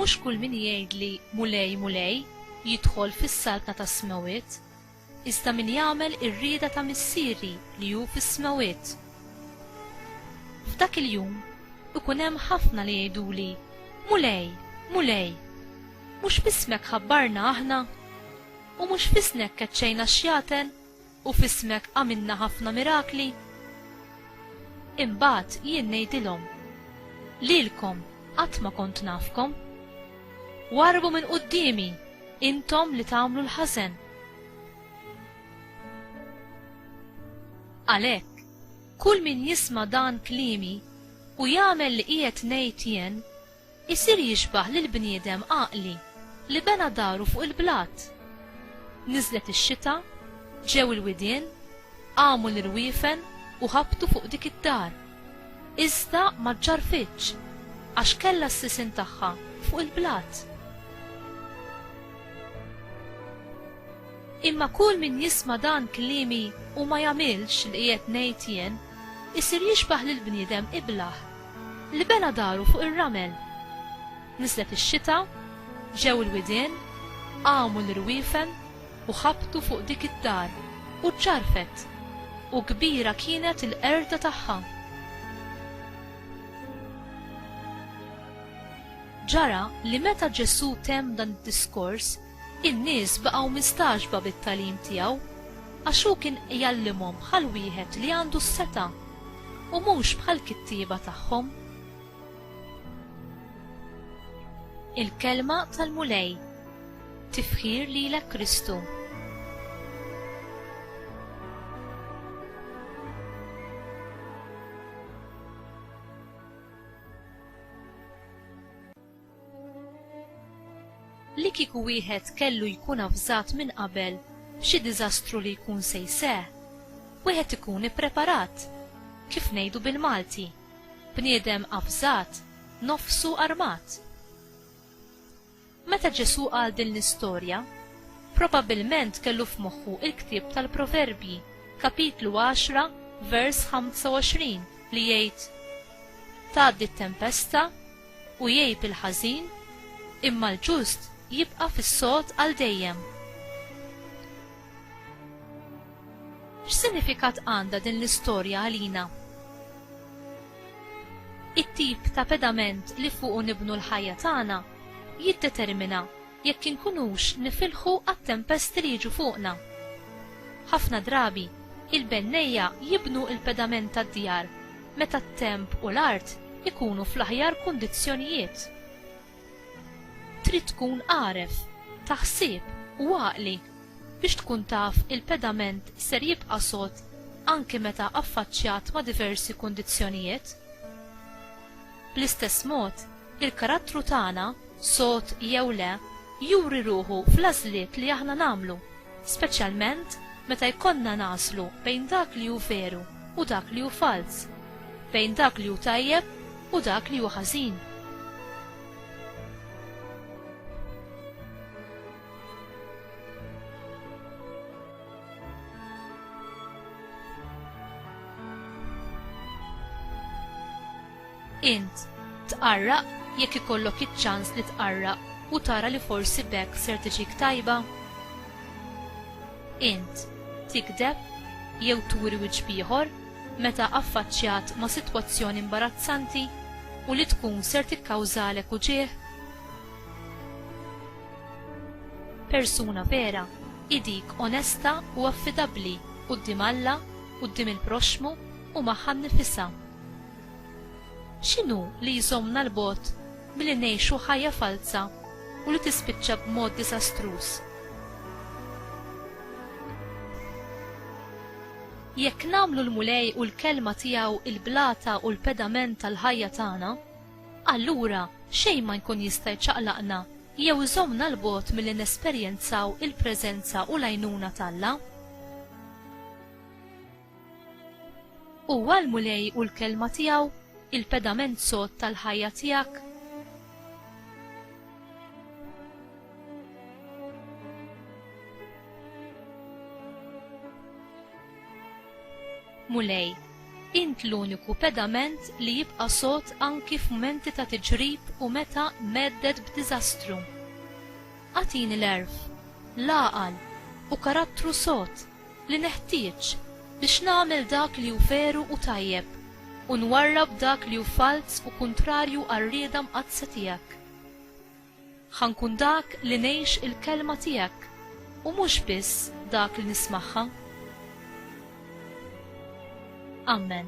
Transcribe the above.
Mhux kull min jgħidli, 'Mulej, Mulej, jidħol fis-saltna tas-smewwiet, iżda min jagħmel ir-rieda ta' Missieri li hu fis-smewwiet. F'dak il-jum ikun hemm ħafna li jgħiduli, 'Mulej, Mulej, mhux b'ismek ħabbarna aħna, U mhux f'isnek keċċejna x-xjaten, u f'ismek għamilna ħafna mirakli? Imbagħad jien ngħidilhom, Lilkom qatt ma kont nafkom. Warrbu minn quddiemi, intom li tagħmlu l-ħażen! Għalhekk, kull min jisma' dan kliemi u jagħmel li qiegħed ngħid jien, Isir jixbah lill-bniedem għaqli li bena daru fuq il-blat. Niżlet ix-xita, ġew il-widien, qamu l-irwiefen u ħabtu fuq dik id-dar. Iżda ma ġġarrfitx, għax kellha s-sisien tagħha fuq il-blat. Imma kull min jisma' dan kliemi u ma jagħmilx li qiegħed ngħid jien, isir jixbah lill-bniedem iblah, Li bena daru fuq ir-ramel. Niżlet ix-xita, ġew il-widien, qamu l-irwiefen u ħabtu fuq dik id-dar u ċċarrfet, u kbira kienet il-qerda tagħha. Ġara li meta Ġesù temm dan id-diskors, In-nies baqgħu mistagħġba bit-tagħlim tiegħu, għax hu kien jgħallimhom bħal wieħed li għandu s-setgħa, u mhux bħall-kittieba tagħhom. Il-Kelma tal-Mulej Tifħir lilek Kristu! Li kieku wieħed kellu jkun avżat minn qabel b'xi diżastru li jkun se jseħħ, wieħed ikun ippreparat. Kif ngħidu bil-Malti, bniedem avżat, nofsu armat. Meta Ġesù qal din l-istorja, probabbilment kellu f'moħħu l-ktieb tal-Proverbji, kapitlu għaxra, vers 25, li jgħid, Tgħaddi t-tempesta, u jgħib il-ħażin, imma l-ġust jibqa' fis-sod għal dejjem. X'sinifikat għandha din l-istorja għalina? It-tip ta' pedament li fuqu nibnu l-ħajja tagħna jiddetermina jekk inkunux nifilħu għat-tempesti li jiġu fuqna. Ħafna drabi, il-bennejja jibnu l-pedament tad-djar meta t-temp u l-art ikunu fl-aħjar kundizzjonijiet. Trid tkun għaref, ta' ħsieb u għaqli biex tkun taf il-pedament ser jibqa' sod anki meta affaċċjat ma' diversi kundizzjonijiet. Bl-istess mod, Il-karattru tagħna, sod jew le, juri ruħu fl-għażliet li aħna nagħmlu, speċjalment meta jkollna nagħżlu bejn dak li hu veru u dak li hu falz, bejn dak li hu tajjeb u dak li hu ħażin. Int tqarraq jekk ikollok iċ-ċans li tqarraq u tara li forsi b'hekk ser tiġik tajba? Int tigdeb jew turi wiċċ b'ieħor meta affaċċjat ma' sitwazzjoni imbarazzanti u li tkun ser tikkawżalek uġigħ? Persuna vera hi dik onesta u affidabbli quddiem Alla, quddiem il-proxxmu u magħha nnifisha. X'inhu li jżommna 'l bogħod milli ngħixu ħajja falza u li tispiċċa b'mod diżastruż? Jekk nagħmlu l-Mulej u l-Kelma tiegħu l-blata u l-pedament tal-ħajja tagħna, allura xejn ma jkun jista' jċaqlaqna jew iżommna 'l bogħod milli nesperjenzaw il-preżenza u l-għajnuna t'Alla. Huwa l-Mulej u l-Kelma tiegħu il-pedament sod tal-ħajja tiegħek? Mulej, int l-uniku pedament li jibqa' sod anki f'mumenti ta' tiġrib u meta medded b'diżastru. Agħtini l-għerf, l-għaqal u karattru sod li neħtieġ biex nagħmel dak li hu veru u tajjeb u nwarrab dak li hu falz u kuntrarju għar-rieda mqaddsa tiegħek. Ħa nkun dak li ngħix il-Kelma tiegħek u mhux biss dak li nismagħha. Amen.